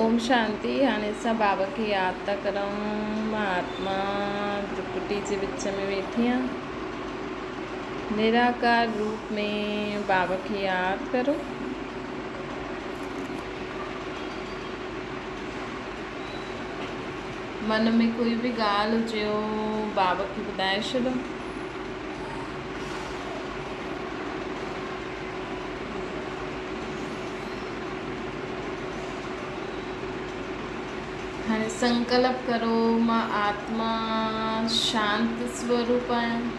اوم شانتي هاڻي اسان بابا کي ياد ٿا ڪريون مان آتما ڊپٽي جي وچ ۾ ويٺي آهيان نراڪار روپ ۾ بابا کي ياد ڪرو من ۾ ڪوئي به ڳالهه هجيو بابا کي ٻڌائي ڇڏو هاڻي سنڪلپ ڪرو، مان آتما شانت سوروپ آهيان.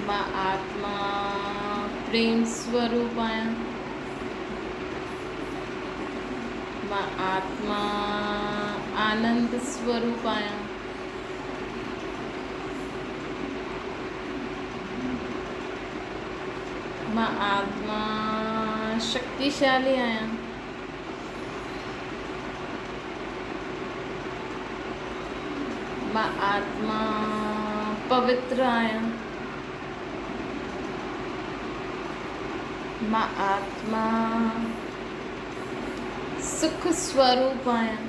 مان آتما پريم سوروپ آهيان. مان آتما آنند سوروپ آهيان. مان آتما شڪتيشالي آهيان. مان آتما پوتر آهيان. مان آتما سک سوروپ آهيان.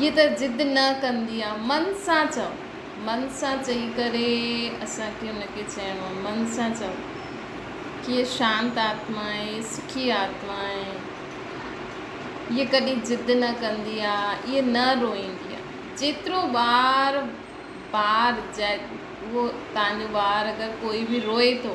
هيء ته ضد نه ڪندي آ. من سان چئو. من سان چئي ڪري اسان کي ان کي چئڻو آ. من سان چئو. هيء شانت آتما آهي. هيء سکي آتما آهي. هيء ڪڏهن ضد نه ڪندي آ. هيء نه روئيندي آ. جيترو ٻار، ٻار، اهو توهان جو ٻار اگر ڪوئي به روئي ٿو.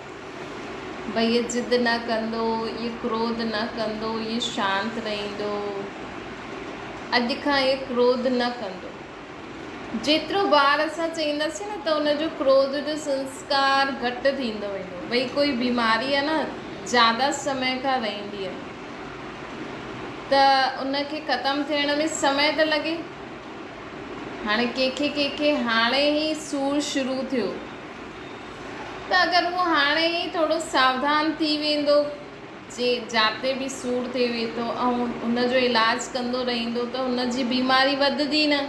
ڀئي ضد نه ڪندو، اي ڪروڌ نه ڪندو، اي شانت رهندو. اڄ کان اي ڪروڌ نه ڪندو. جيترو بار اسان چئينداسين نه ته ان جو ڪروڌ جو سنسڪار گهٽ ٿيندو ويندو. ڀئي ڪوئي بيماري آهي نه زياده سمي کان رهندي آهي ته ان کي ختم ٿيڻ ۾ سمي ته لڳي. هاڻي ڪنهن کي ڪنهن کي هاڻي ئي سور شروع ٿيو ته اگر اهو هاڻي ئي ٿورو ساوڌان ٿي ويندو جي جاتي به سور ٿئي ويٺو ۽ ان جو علاج ڪندو رهيندو ته هن جي بيماري وڌدي نه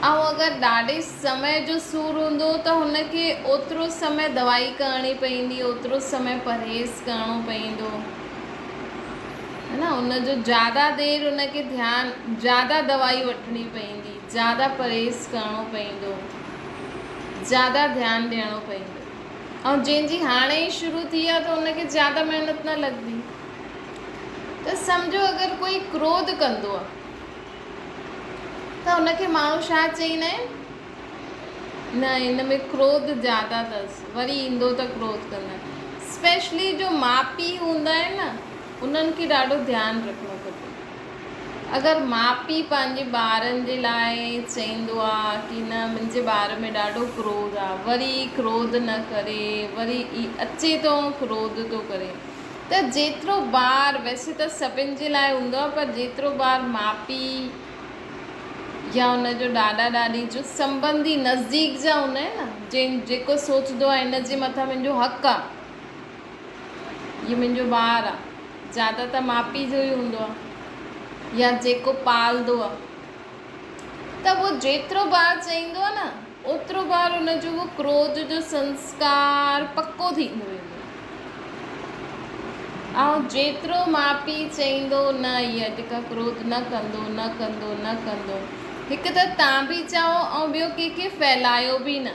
۽ اگر ڏاڍي سمي جو سور هوندو ته هن کي اوترو سمي دوائي ڪرڻي پوندي اوترو سمي پرهيز ڪرڻو پوندو هن ان جو زياده دير ان کي ڌيان زياده دوائي وٺڻي پوندي زياده پرهيز ڪرڻو پوندو، زياده ڌيان ڏيڻو پوندو ۽ جنهن جي هاڻي ئي شروع ٿي آهي ته ان کي زياده محنت نه لڳندي ته سمجهو اگر ڪوئي ڪروڌ ڪندو آهي ته ان کي ماڻهو ڇا چئيندا آهن نه ان ۾ ڪروڌ زياده اٿس وري ايندو ته ڪروڌ ڪندو اسپيشلي جو ماء پيء هوندا آهن نه انهن کي ڏاڍو ڌيان رکڻو کپي اگر ماء پيء پنهنجي ٻارن جي لاء چئيندو آ ڪي نه منهنجي ٻار ۾ ڏاڍو ڪروڌ آ وري ڪروڌ نه ڪري وري ئي اچي ٿو ۽ ڪروڌ ٿو ڪري ته جيترو بار ويسي ته سڀن جي لاء هوندو آ پر جيترو بار ماء پيء يا ان جو ڏاڏا ڏاڏي جو سنبنڌي نزديڪ جا هوندا آهن نه جيڪو سوچدو آ هن جي مٿان منهنجو حق آ ھيء منھنجو ٻار آ. زياده ته ماء پيء جو ئي ھوندو آ يا جيڪو پالندو آ ته اھو جيترو بار چئيندو آ نه اوترو بار ان جو اھو ڪروڌ جو سنسڪار پڪو ٿيندو ويندو آ. ائون جيترو ماء پيء چئيندو نه ھيء اڄ کان ڪروڌ نه ڪندو، نه ڪندو، نه ڪندو. ھڪ ته تان به چئو ۽ ٻيو ڪنھن کي ڦھلايو به نه.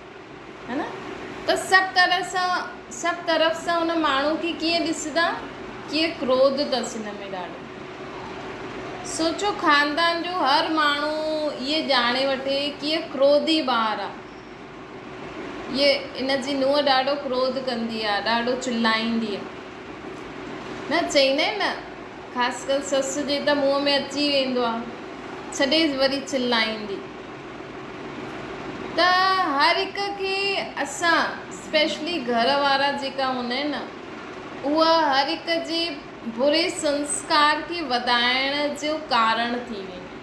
ته سڀ طرح سان سڀ طرف سان ان ماڻهو کي ڪيئن ڏسندا ڪيئن ڪروڌ اٿس هن ۾ ڏاڍو سوچو خاندان جو هر ماڻهو اهي ڄاڻي وٺي ڪيئن ڪروڌي ٻار آ هي ان جي نونهن ڏاڍو ڪروڌ ڪندي آ ڏاڍو چلائيندي آ نه چئيندا آهن نه خاص ڪر سس جي ته منهن ۾ اچي ويندو آ ڇڏي وري چلائيندي ته هر هڪ کي اسان اسپيشلي گهر وارا جيڪا هوندا آهن نه اها هر هڪ جي بري سنسڪار کي وڌائڻ جو ڪارڻ ٿي ويندي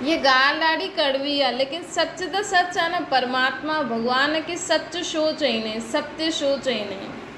هيء ڳالهه ڏاڍي ڪڙوي آهي ليڪن سچ ته سچ آهي نه پرماتما ڀڳوان کي سچ شو چئيندا آهن ستيو شو چئيندا آهن.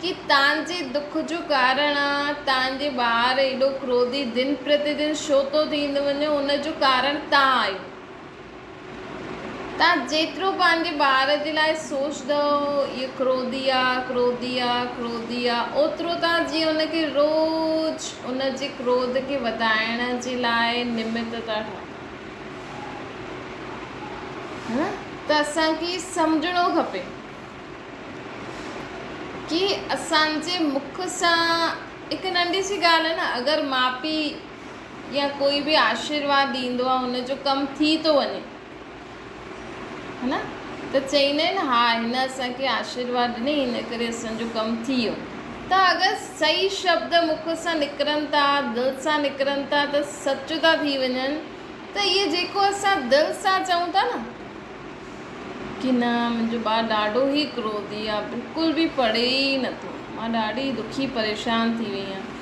ڪي تنهنجي دک جو ڪارڻ آ، تنهنجي ٻار ايڏو ڪروڌي دن پرتيدن شو ٿو ٿيندو وڃي، ان جو ڪارڻ تان آهيو. تان جيترو پنهنجي ٻار جي لاء سوچدؤ، اهو ڪروڌي آ، ڪروڌي آ، ڪروڌي آ، اوترو تان جي ان کي روز ان جي ڪروڌ کي وڌائڻ جي لاء نمت ٿا ٺاهيو. ته اسان کي سمجهڻو کپي ڪي اسان جي مک سان هڪ ننڍي سي ڳالهه نه اگر ماء پي يا ڪوئي به آشيرواد ڏيندو آهي ان جو ڪم ٿي ٿو وڃي ها نه ته چئيندا آهن ها هن اسانکي آشيرواد ڏني ان ڪري اسان جو ڪم ٿي ويو ته اگر سهي شبد مک سان نڪرن ٿا دل سان نڪرن ٿا ته سچ ٿا ٿي وڃن ته اهي جيڪو اسان دل سان چئون ٿا نه ڪي نه منهنجو ٻار ڏاڍو ئي ڪروڌي آ بلڪل به پڙهي ئي نٿو مان ڏاڍي دکي پريشان ٿي وئي آهيان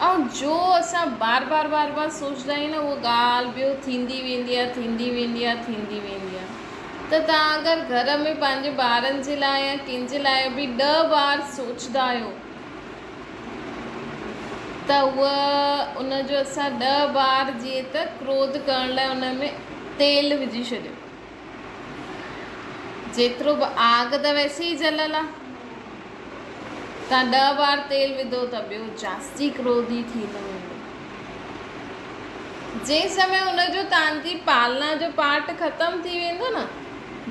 ۽ جو اسان بار بار بار بار سوچدا آهيون نه هو ڳالهه ٻيو ٿيندي ويندي آ ٿيندي ويندي آ ٿيندي ويندي آ ته تان اگر گهر ۾ پنهنجي ٻارن جي لاء يا ڪنهن جي لاء به ڏهه بار سوچدا آهيو ته هو ان جو اسان ڏهه بار جيئن ته ڪروڌ ڪرڻ لاء ان ۾ تيل وجهي ڇڏيو جيترو به آگ ته ويسي ئي جليل آ. تان ڏهه بار تيل وڌو ته ٻيو جاستي ڪروڌي ٿي ٿو ويندو. جنهن سمي ان جو تان جي پالنا جو پارٽ ختم ٿي ويندو نه،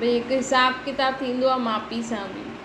ڀئي هڪ حساب ڪتاب ٿيندو آ ماپي سان به.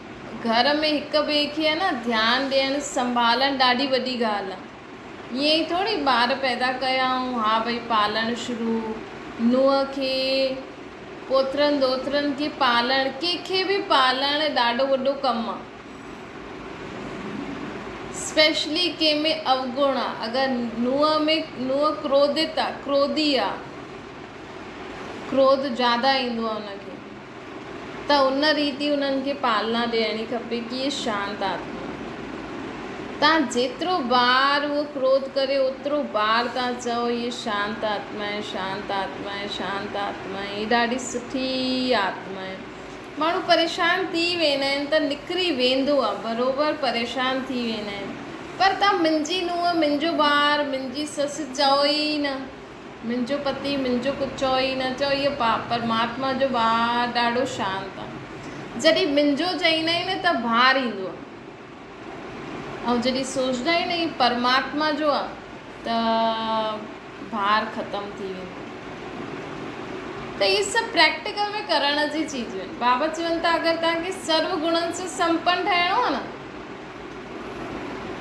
گهر ۾ هڪ ٻئي کي ها نه ڌيان ڏيڻ سنڀالڻ ڏاڍي وڏي ڳالهه آهي ائين ئي ٿوري ٻار پيدا ڪيا ۽ ها ڀئي پالڻ شروع نونهن کي پوترن ڏوترن کي پالڻ ڪنهن کي به پالڻ ڏاڍو وڏو ڪم آهي اسپيشلي ڪنهن ۾ اوگڻ آهي اگر نونهن ۾ نونهن ڪروڌت آهي ڪروڌي آهي ڪروڌ زياده ايندو آهي ان کي ته ان ريت ئي انهن کي پالنا ڏيڻي کپي. ڪيئي شانت آتما تان جيترو بار اهو ڪروڌ ڪري اوترو بار تان چئو هي شانت آتما هي شانت آتما هي شانت آتما هي ڏاڍي سٺي آتما هي. ماڻهو پريشان ٿي ويندا آهن ته نڪري ويندو آهي بروبر پريشان ٿي ويندا آهن پر تان منهنجي نونهن منهنجو ٻار منهنجي سس چئو ئي نه منهنجو پتي منهنجو ڪجهه چئو ئي نه، چئو اهو پاء پرماتما جو ٻار ڏاڍو شانت آ، جڏهن منهنجو چئيندا آهن ته بار ايندو آ ۽ جڏهن سوچدا آهن اهو پرماتما جو آ ته بار ختم ٿي ويندو آ. ته اهي سڀ پريڪٽيڪل ۾ ڪرڻ جي چيزون آهن. بابا چون ٿا اگر توهان کي سرو گڻن سان سمپن ٺهڻو آ نه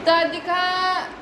ته اڄ کان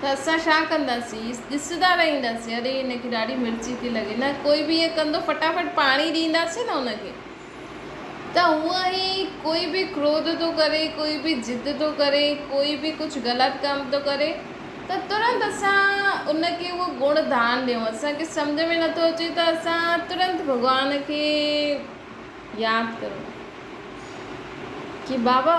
ته اسان ڇا ڪنداسين ڏسندا رهينداسين اري هن کي ڏاڍي مرچي ٿي لڳي نه ڪوئي به ائين ڪندو فٽافٽ پاڻي ڏينداسين نه ان کي ته هونئن ئي ڪوئي به ڪروڌ ٿو ڪري ڪوئي به ضد ٿو ڪري ڪوئي به ڪجهه غلط ڪم ٿو ڪري ته ترنت اسان ان کي اهو گڻ دان ڏيون اسان کي سمجهه ۾ نٿو اچي ته اسان ترنت ڀڳوان کي ياد ڪرون ڪي بابا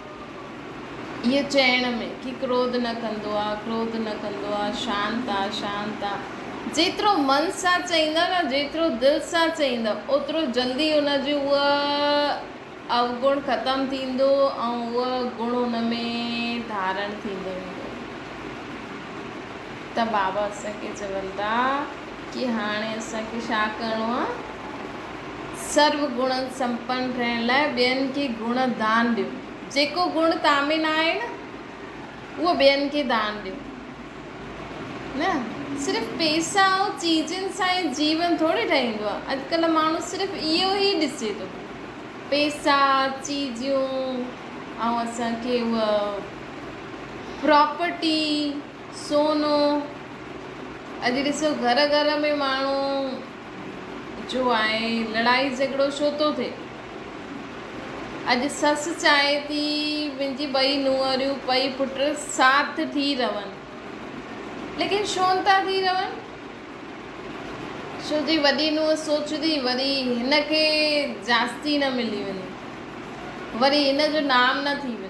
اهي چئڻ ۾ ڪي ڪروڌ نه ڪندو آ، ڪروڌ نه ڪندو آ، شانت آ، شانت آ. جيترو من سان چئيندا نه، جيترو دل سان چئيندا، اوترو جلدي ان جو اهو اوگڻ ختم ٿيندو ۽ اهو گڻ ان ۾ ڌارڻ ٿيندو ويندو. ته بابا اسان کي چون ٿا. ڪي هاڻي اسان کي ڇا ڪرڻو آهي؟ سرو گڻن سمپن رهڻ لاء ٻين کي گڻ دان ڏيو. جيڪو گڻ توهان ۾ نه آهي نه اهو ٻين کي دان ڏيو. نه صرف پئسا ۽ چيزن سان ئي جيون ٿوري ٺهيندو آهي. اڄڪلهه ماڻهو صرف اهو ئي ڏسي ٿو. پئسا، چيزيون ۽ اسان کي اها پراپرٽي. سونو، اڄ ڏسو گهر گهر ۾ ماڻهو جو آهي لڙائي جهڳڙو ڇو ٿو ٿئي. اڄ سس چاهي ٿي منهنجي ٻئي نونهريون ٻئي پٽ ساٿ ٿي رهن ليڪن ڇو نٿا ٿي رهن ڇو جي وڏي نونهن سوچندي وري هن کي جاستي نه ملي وڃي وري هن جو نام نه ٿي وڃي.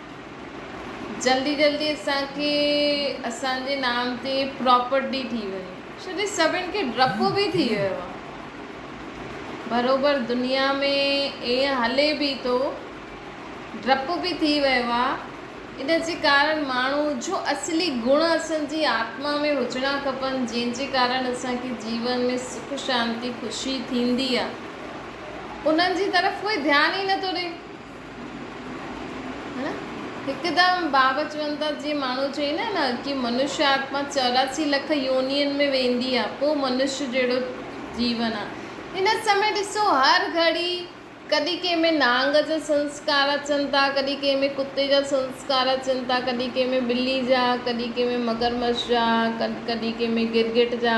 جلدي جلدي اسان کي اسان جي نام تي پراپرٽي ٿي وئي ڇو جو سڀن کي ڊپ به ٿي ويو آ بروبر دنيا ۾ ايئن هلي به ٿو ڊپ به ٿي ويو آ ان جي ڪارڻ ماڻهو جو اصلي گڻ اسان جي آتما ۾ هجڻا کپن جنهن جي ڪارڻ اسان کي جيون ۾ سک شانتي خوشي ٿيندي آ انهن جي طرف ڪوئي ڌيان ئي نٿو ڏي هڪدم باوجوندت جي ماڻهو چئي نه نه ڪي منشيٰ آتما چوراسي لک يونين ۾ ويندي آ پو منشيٰ جهڙو جيون آ هن سمي ڏسو هر گهڙي ڪڏهن ڪنهن ۾ نانگ جا سنسڪار اچن ٿا ڪڏهن ڪنهن ۾ ڪتي جا سنسڪار اچن ٿا ڪڏهن ڪنهن ۾ ٻلي جا ڪڏهن ڪنهن ۾ مگرمڇ جا ڪڏهن ڪنهن ۾ گرگٽ جا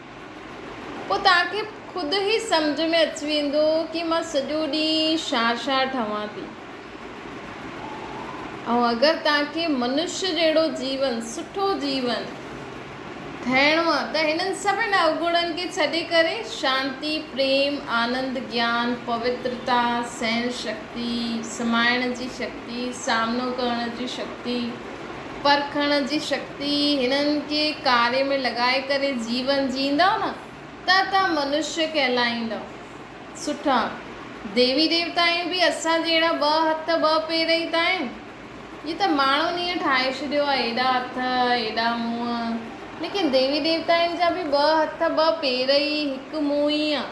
پوء توهان کي خود ئي سمجهه ۾ اچي ويندو ڪي مان سڄو ڏينهن ڇا ڇا ٺاهيان ٿي. ۽ اگر توهان کي منشي جهڙو جيون، سٺو جيون، ٺاهڻو آهي ته هنن سڀني اوگڻن کي ڇڏي ڪري شانتي، پريم، آنند، گيان، پوترتا، سهن شڪتي، سمائڻ جي شڪتي، سامنو ڪرڻ جي شڪتي، پرکڻ جي شڪتي هنن کي ڪاري ۾ لڳائي ڪري جيون جيئندؤ نه ته ته منشيه ڪهلائيندؤ. سٺا، ديوي ديوتايون به اسان جهڙا ٻه هٿ ٻه پير ئي ته آهن. جي ته ماڻهن ايئن ٺاهي ڇڏيو آهي ايڏا هٿ ايڏا منهن ليڪن ديوي ديوتاين جا به ٻه هٿ ٻه پير ئي هڪ منهن ئي آهي.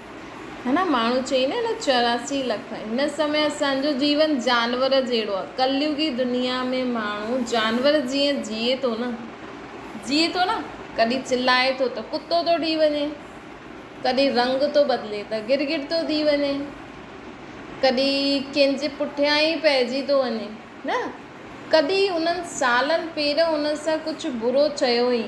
هن ماڻهو چئي نه هن چوراسي لک هن سمي اسان جو جيون جانور جهڙو آهي ڪليوگي دنيا ۾ ماڻهو جانور جيئن جيئي ٿو نه جيئي ٿو نه ڪڏهن چلائي ٿو ته ڪتو ٿو ٺهي وڃي ڪڏهن رنگ ٿو بدلي ته گرگٽ ٿو ٿي وڃي ڪڏهن ڪنهن جي پٺيان ئي پئجي ٿو وڃي نه ڪڏهن انهن سالن پير ان سان ڪجهه برو چيو هئي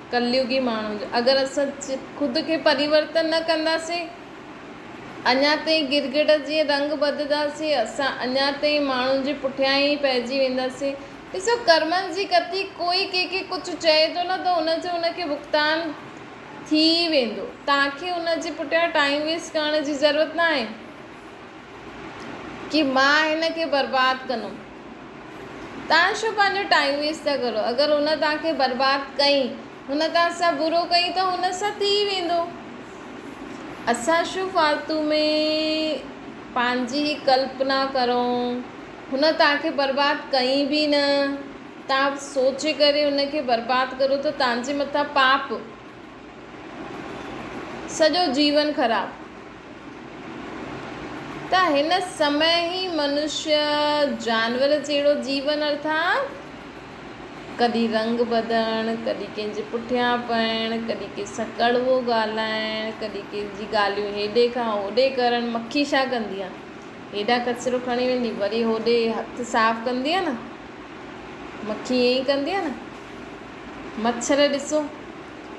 ڪليوڳي ماڻهو جو اگر اسان خود کي پريورتن نه ڪنداسين اڃان تائين گرگٽ جيئن رنگ ٻڌداسين اسان اڃان تائين ماڻهن جي پٺيان ئي پئجي وينداسين ڏسو ڪرمن جي ڪتي ڪوئي ڪنهن کي ڪجهه چئي ٿو نه ته ان جو ان کي ڀڳتان ٿي ئي ويندو توهان کي ان جي پٺيان ٽائيم ويسٽ ڪرڻ جي ضرورت ناهي ڪي مان هن کي برباد ڪندم. توهان ڇو پنهنجو ٽائيم ويسٽ ٿا ڪرو. اگر هن توهان کي برباد ڪئي، هن توهان سان برو ڪئي ته هن سان ٿي ويندو. اسان ڇو فالتو ۾ پنهنجي ڪلپنا ڪرون. هن توهان کي برباد ڪئي به نه. توهان سوچي ڪري هن کي برباد ڪرو ته توهان جي مٿان پاپ. سڄو جيون خراب. ته هن سمي ئي منشيء جانور جهڙو جيون ارٿان ڪڏهن رنگ بدڻ، ڪڏهن ڪنهن جي پٺيان پئڻ، ڪڏهن ڪنهن سان ڪڙوو ڳالهائڻ، ڪڏهن ڪنهن جي ڳالهيون هيڏي کان هوڏي ڪرڻ، مکي ڇا ڪندي آهي؟ هيڏانهن ڪچرو کڻي ويندي وري هوڏي هٿ صاف ڪندي آهي نه؟ مکي ائين ئي ڪندي آهي نه؟ مڇر ڏسو،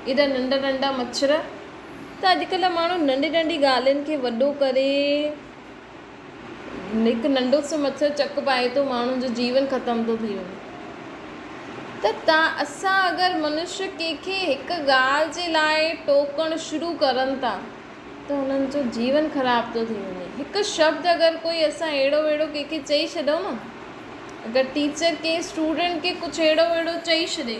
ايڏا ننڍا ننڍا مڇر ته اڄڪلهه ماڻهو ننڍي ننڍي ڳالهين کي وڏو ڪري هڪ ننڍو سو مڇر چڪ پائي ٿو ماڻهن جو جيون ختم ٿو ٿي وڃي ته تا اسان اگر منش ڪنهن کي هڪ ڳالهه جي لاء ٽوڪڻ شروع ڪرن ٿا ته هنن جو جيون خراب ٿو ٿي وڃي هڪ شبد اگر ڪوئي اسان اهڙو وهڙو ڪنهن کي چئي ڇڏيون نه اگر ٽيچر ڪنهن اسٽوڊنٽ کي ڪجهه اهڙو وهڙو چئي ڇڏي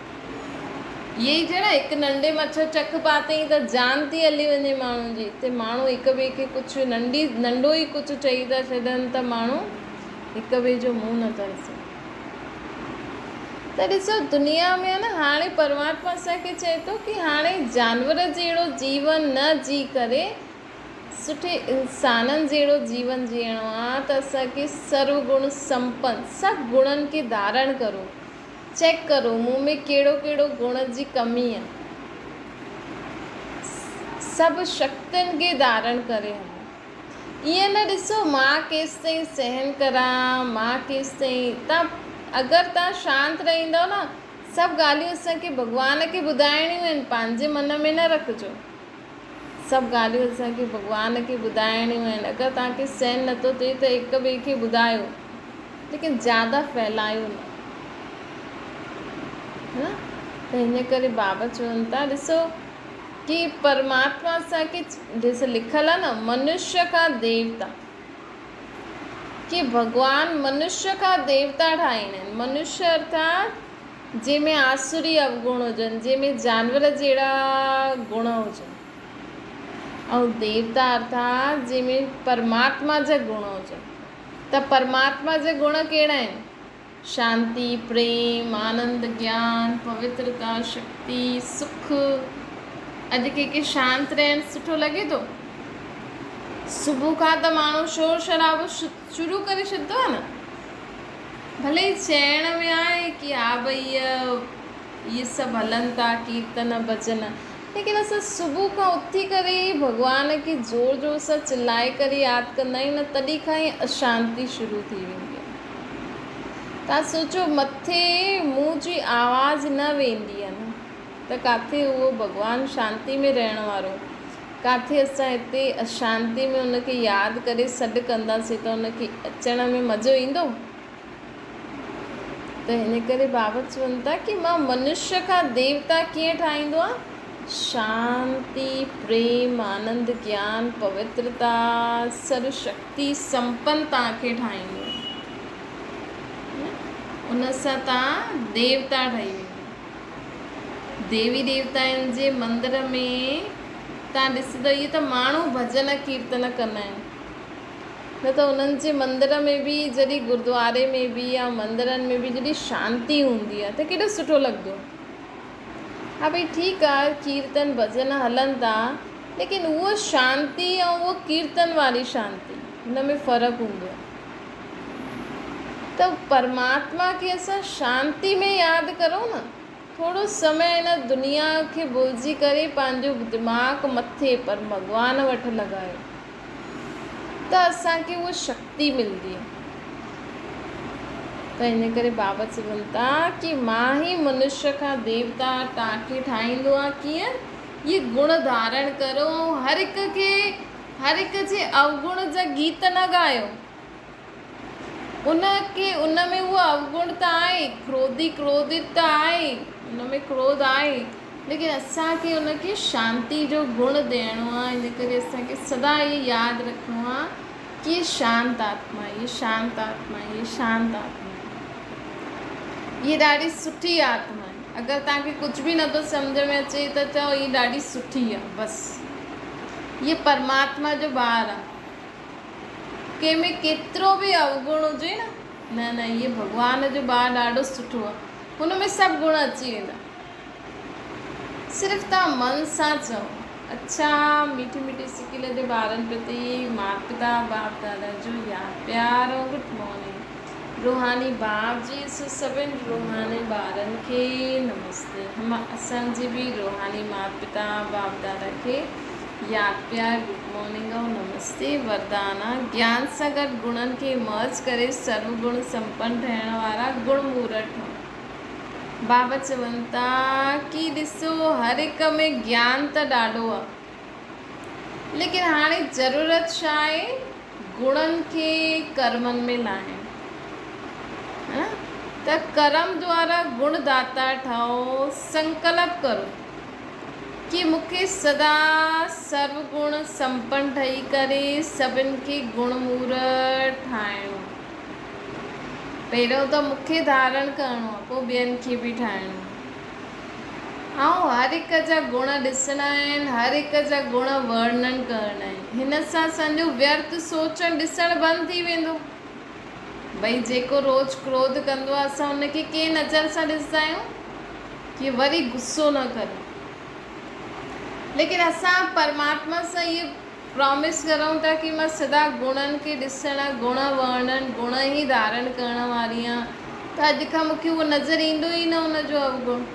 اهي ئي جهڙا هڪ ننڍي مڇر چڪ پاتئين ته جان ٿي هلي وڃي ماڻهن جي تي ماڻهو هڪ ٻئي کي ڪجهه ننڍي ننڍو ئي ڪجهه چئي ٿا ڇڏن ته ماڻهو هڪ ٻئي جو منهن نه ٿا ڏسن ته ڏسو دنيا ۾ آهي نه هاڻي پرماتما اسان کي چئي ٿو ڪي هاڻي جانور جهڙو جيون نه جي ڪري سٺي انسانن جهڙو جيون جيئڻو آهي ته اسان کي سرو گڻ سمپن سڀ گڻن کي ڌارڻ ڪرو چيڪ ڪرو مون ۾ ڪهڙو ڪهڙو گڻ جي ڪمي آ. سڀ شڪتين کي ڌارڻ ڪري هلو. ائين نه ڏسو مان ڪيستائين سهن ڪران، مان ڪيستائين. تان اگر تان شانت رهندؤ نه، سڀ ڳالهيون اسان کي ڀڳوان کي ٻڌائڻيون آهن، پنهنجي من ۾ نه رکجو. سڀ ڳالهيون اسان کي ڀڳوان کي ٻڌائڻيون آهن اگر توهان کي سهن نٿو ٿئي ته هڪ ٻئي کي ٻڌايو ليڪن زياده ڦهلايو نه ها ته هن ڪري بابا چون ٿا ڏسو ڪي پرماتما اسان کي ڏس لکل آهي نه منشيا کان ديوتا ڪي ڀڳوان منشيا کان ديوتا ٺاهيندا آهن منشيا ارٿات جنهن ۾ آسوري اوگڻ هجن، جنهن ۾ جانور جهڙا گڻ هجن ۽ ديوتا ارٿا جنهن ۾ پرماتما جا گڻ هجن ته پرماتما جا گڻ ڪهڙا آهن؟ شانتي، پريم، آنند، گيان، پوترتا، شڪتي، سک. اڄ ڪنهن کي شانت رهڻ سٺو لڳي ٿو؟ صبح کان ته ماڻهو شور شرابو شروع ڪري ڇڏدو آهي نه ڀلي هي چئڻ ۾ آهي ڪي ها ڀئي اهي سڀ هلن ٿا ڪيرتن ڀڄن ليڪن اسان صبح کان اٿي ڪري ئي ڀڳوان کي زور زور سان چلائي ڪري ياد ڪندا آهيون نه تڏهن کان ئي اشانتي شروع ٿي ويندي آهي توهان سوچو مٿي منهن جي آواز نه ويندي آهي نه ته ڪاٿي اهو ڀڳوان شانتي ۾ رهڻ وارو، ڪاٿي اسان هتي اشانتي ۾ ان کي ياد ڪري سڏ ڪنداسين ته ان کي اچڻ ۾ مزو ايندو؟ ته هن ڪري ڀاوت چون ٿا ڪي مان منشيه کان ديوتا ڪيئن ٺاهيندو آهيان؟ شانتي، پريم، آنند، گيان، پوترتا، سر شڪتي سمپن توهان کي ٺاهيندو. ان سان توهان ديوتا ٺهي ويندو. ديوي ديوتائن جي مندر ۾ تان ڏسندو اهي ته ماڻهو ڀڄن ڪيرتن ڪندا آهن نه ته انهن جي مندر ۾ به جڏهن گردواري ۾ به يا مندرن ۾ به جڏهن شانتي هوندي آهي ته ڪيڏو سٺو لڳندو ها ڀئي ٺيڪ آهي ڪيرتن ڀڄن هلن ٿا ليڪن اهو شانتي ۽ اهو ڪيرتن واري شانتي ان ۾ فرق هوندو آهي ته پرماتما کي اسان شانتي ۾ ياد ڪرون نه، ٿورو سمي هن دنيا کي ڀلجي ڪري پنهنجو دماغ مٿي پر ڀڳوان وٽ لڳايو ته اسان کي اها شڪتي ملندي. ته ان ڪري بابا چون ٿا ڪي مان هي منشي کان ديوتا ٽانڪي ٺاهيندو آهيان ڪيئن؟ اهي گڻ ڌارڻ ڪرو ۽ هر هڪ کي هر هڪ جي اوگڻ جا گيت نه ڳايو. ان کي ان ۾ هو اوگڻ ته آهي، ڪروڌي ڪروڌت ته آهي، ان ۾ ڪروڌ آهي، ليڪن اسان کي ان کي شانتي جو گڻ ڏيڻو آهي، ان ڪري اسان کي سدا اهو ياد رکڻو آهي ته هيء شانت آتما آهي، هيء شانت آتما آهي، هيء شانت آتما آهي، هيء ڏاڍي سٺي آتما آهي. اگر توهان کي ڪجهه به نٿو سمجهه ۾ اچي ته چئو هي ڏاڍي سٺي آ بس هيء پرماتما جو ٻار آ ڪنهن ۾ ڪيترو به اوگڻ هجي نه نه نه هيء ڀڳوان جو ٻار ڏاڍو سٺو آ هن ۾ سڀ گڻ اچي ويندا صرف توهان من سان چئو اڇا ميٺي ميٺي سڪل جي ٻارن پرتي ماپتا باپ دادا جو يار پيار ۽ گڊ مارننگ روحاني باپ جي سو سڀن روحاني ٻارن کي نمستي هم اسان جي به روحاني ماپ پتا باپ دادا کي يار پيار گڊ مارننگ ۽ نمستي وردانا گيان سان گڏ گڻن کي مرج ڪري سرو گڻ سمپن ٺهڻ وارا گڻ مورت ٺهون. بابت چون ٿا ڪي ڏسو هر هڪ ۾ گيان ته ڏاڍو آ ليڪن هاڻي ضرورت ڇا آهي گڻن کي ڪرمن ۾ لاهڻ ها ته ڪرم دوارا گڻ داتا ٺهو سنڪلپ ڪرو ڪي مون کي سدا سرو گڻ سمپن ٺهي ڪري سڀن کي گڻ مور ٺاهڻو. پهريون ته مون کي ڌارڻ ڪرڻو آهي پوء ٻين کي به ٺاهڻو آهي. آئون هر هڪ جا گڻ ڏسڻا آهن، هر هڪ جا گڻ ورنڻ ڪرڻا آهن. هن سان سنجو ويرٿ سوچڻ ڏسڻ بند ٿي ويندو. ڀئي جيڪو روز ڪروڌ ڪندو آهي اسان ان کي ڪنهن نظر سان ڏسندا آهيون ڪي وري غصو نه ڪري ليڪن اسان پرماتما سان اهي پرامس ڪرون ٿا ڪي مان سدا گڻن کي ڏسڻ، گڻ ورڻن، گڻ ئي ڌارڻ ڪرڻ واري آهيان ته اڄ کان مون کي اهو نظر ايندو ئي نه ان جو اوگڻ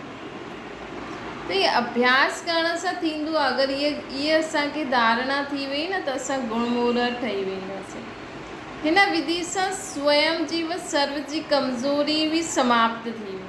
ته هي اڀياس ڪرڻ سان ٿيندو آهي اگر اهي اهي اسان کي ڌارڻا ٿي وئي نه ته اسان گڻ مورهر ٺهي وينداسين هن وڌي سان سوئم جيوت سرو جي ڪمزوري به سماپت ٿي ويندي.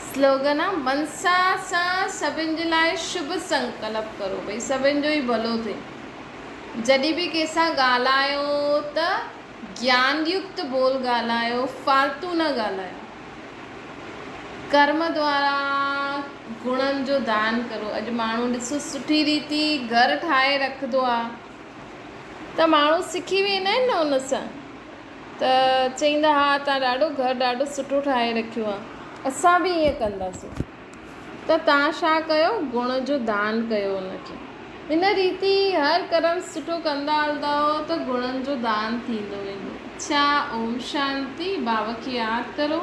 سلوگن آ منسا سان سڀن جي لاء شڀ سنڪلپ ڪرو ڀئي سڀن جو ئي ڀلو ٿئي جڏھن به ڪنھن سان ڳالھايو ته گيان يڪت ٻول ڳالھايو فالتو نه ڳالھايو ڪرم دوارا گڻن جو دان ڪرو اڄ ماڻھو ڏسو سٺي ريتي گھر ٺاھي رکندو آ ته ماڻهو سکي ويندا آهن نه ان سان ته چئيندا ها تان ڏاڍو گهر ڏاڍو سٺو ٺاهي رکيو آهي اسان به ائين ڪنداسين ته تان ڇا ڪيو گڻ جو دان ڪيو ان کي ان ريتي هر ڪرم سٺو ڪندا هلندا هئو ته گڻن جو دان ٿيندو ويندو ڇا اوم شانتي بابا کي ياد ڪرو.